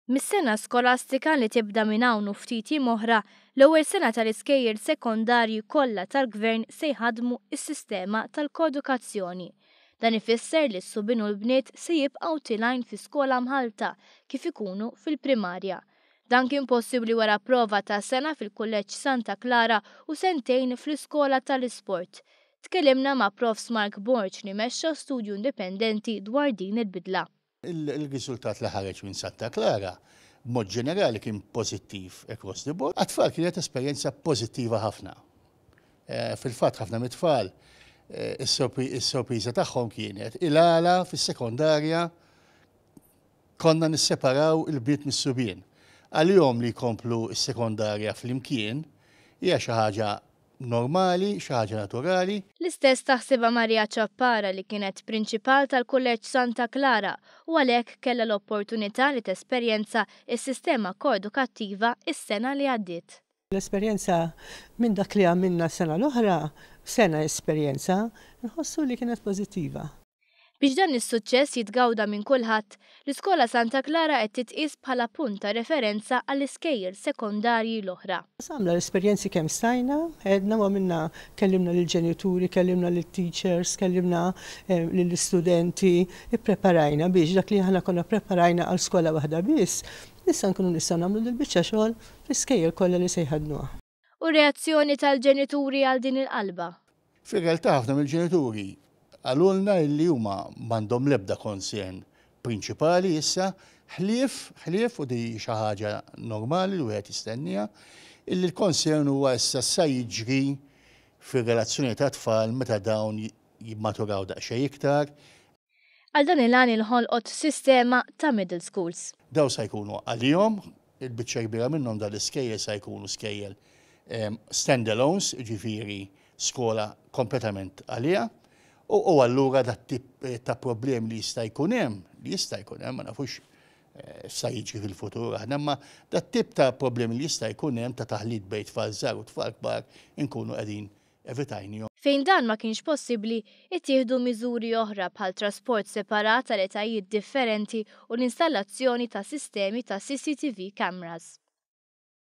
Mis-sena skolastika li tibda minn hawn u ftit jiem oħra, l-ewwel sena tal-iskejjel sekondarji kollha tal-Gvern se jħaddmu s-sistema tal-koedukazzjoni. Dan ifisser li s-subien u l-bniet se jibqgħu tilgħin fi skola mħallta kif ikunu fil-primarja. Dan kien possibbli wara prova ta' sena fil-Kulleġġ Santa Klara u sentejn fl-Iskola tal-Isport. Tkellimna ma' Profs Mark Borg li mexxa studju indipendenti dwar din il-bidla. Ir-riżultat li ħareġ minn Santa Klara b'mod ġenerali kien pożittiv across the board. Għat-tfal kienet esperjenza pożittiva ħafna. Fil-fatt ħafna mit-tfal is-sorpriża tagħhom kienet il-għala fis-sekondarja Konna nisseparaw il-bniet mis-subien. Għalihom li jkomplu s-sekondarja flimkien hija xi ħaġa normali, xi ħaġa naturali. L-istess taħsibha Maria Ciappara li kienet Prinċipal tal-Kulleġġ Santa Clara u għalhekk kellha l-opportunità li tesperjenza s-sistema koedukattiva s-sena li għaddiet. L-esperjenza minn dak li għamilna s-sena l-oħra, sena esperjenza, nħossu li kienet pożittiva. Biex dan is-suċċess jitgawda minn kulħadd, l-Iskola Santa Klara qed titqies bħala punt ta' referenza għall-iskejjel sekondarji l-oħra. Qasamna l-esperjenzi kemm stajna, għedna u għamilna, kellimna lill-ġenituri, kellimna lit-teachers, kellimna lill-istudenti, ippreparajna biex dak li aħna konna ppreparajna għal skola waħda biss, issa nkunu nistgħu nagħmlu dil-biċċa xogħol L-iskejjel kollha li se jħaddnuha. U r-reazzjoni tal-ġenituri għal din il-qalba? Fir-realtà ħafna mill-ġenituri qalulna illi huma m'għandhom l-ebda concern prinċipali issa ħlief, ħlief, u din hi xi ħaġa normali li wieħed jistennieha, illi l-concern huwa issa x'sa jiġri fir-relazzjoni tat-tfal meta dawn jimmaturaw daqsxejn iktar, Għal dan il-għan inħolqot sistema ta' middle schools. Dawn sa jkunu għalihom, il-biċċa l-kbira minnhom dan l-iskejjel sa jkunu skejjel stand-alones, jiġifieri skola kompletament għaliha, u allura dat-tip ta' problemi li jista' jkun hemm, li jista' jkun hemm, ma nafux x'sa jiġri fil-futur aħna, imma dat-tip ta' problemi li jista' jkun hemm ta' taħlit bejn tfal żgħar u tfal kbar inkunu qegħdin evitajnihom. Fejn dan ma kienx possibbli, ittieħdu miżuri oħra bħal trasport separat għal etajiet differenti u l-installazzjoni ta' sistemi ta' CCTV cameras.